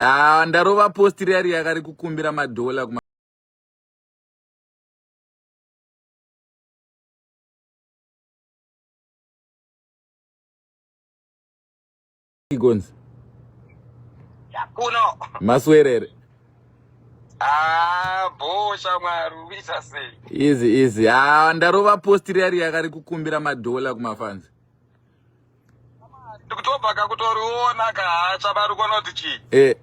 Ah, ndarova post riya riya kari kukumbira madhola kuma Gonzi. Kuno. Maswerere. Ah, bo shamwari ubisa sei? Easy easy. Ah, ndarova post riya riya kari kukumbira madhola kuma fans. ndikutobva kakutoriona kahacha bari kuona kuti chii eh.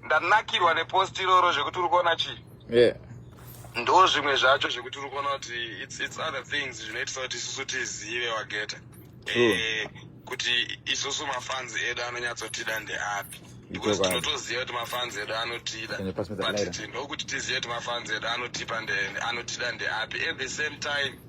ndanakirwa nepost iroro zvekuti uri kuona chii eh. ndo zvimwe zvacho zvekuti uri kuona kuti its, its other things zvinoitisa kuti isusu tizive wageta eh, kuti isusu mafans edu anonyatsotida ndeapi because tinotoziva kuti mafans edu anotida but tinokuti tizive kuti mafans edu anotipa anotida ndeapi at the same time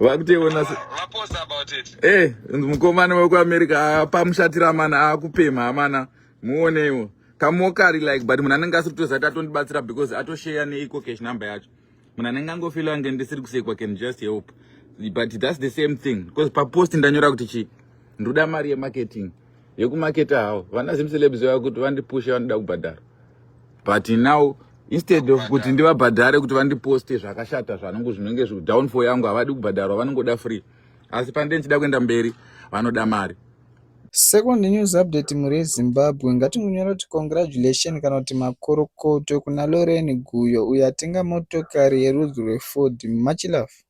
vakuteona eh, mukomana wekuamerica ah, pamushatira mana akupemha ah, amana muoneiwo kamokari like but munhu anenge asiri kutozati atondibatsira because atosheya neiko cash number yacho munhu anenge angofila ange ndisiri kusekwa can just help but thats the same thing because papost ndanyora kuti chii ndoda mari yemarketing yekumaketa hawo vana zimcelebs vakuti vandipushe vanoda kubhadhara but now instead of kuti ndivabhadhare kuti vandiposte zvakashata zvanongo zvinenge zvidownfall yangu havadi kubhadharwa vanongoda free asi pandee ndichida kuenda mberi vanoda mari Second news update mhuri yeZimbabwe ngatingonyora kuti congratulation kana kuti makorokoto kuna Lorraine Guyo uyo atenga motokari yerudzi rweFord. Much love.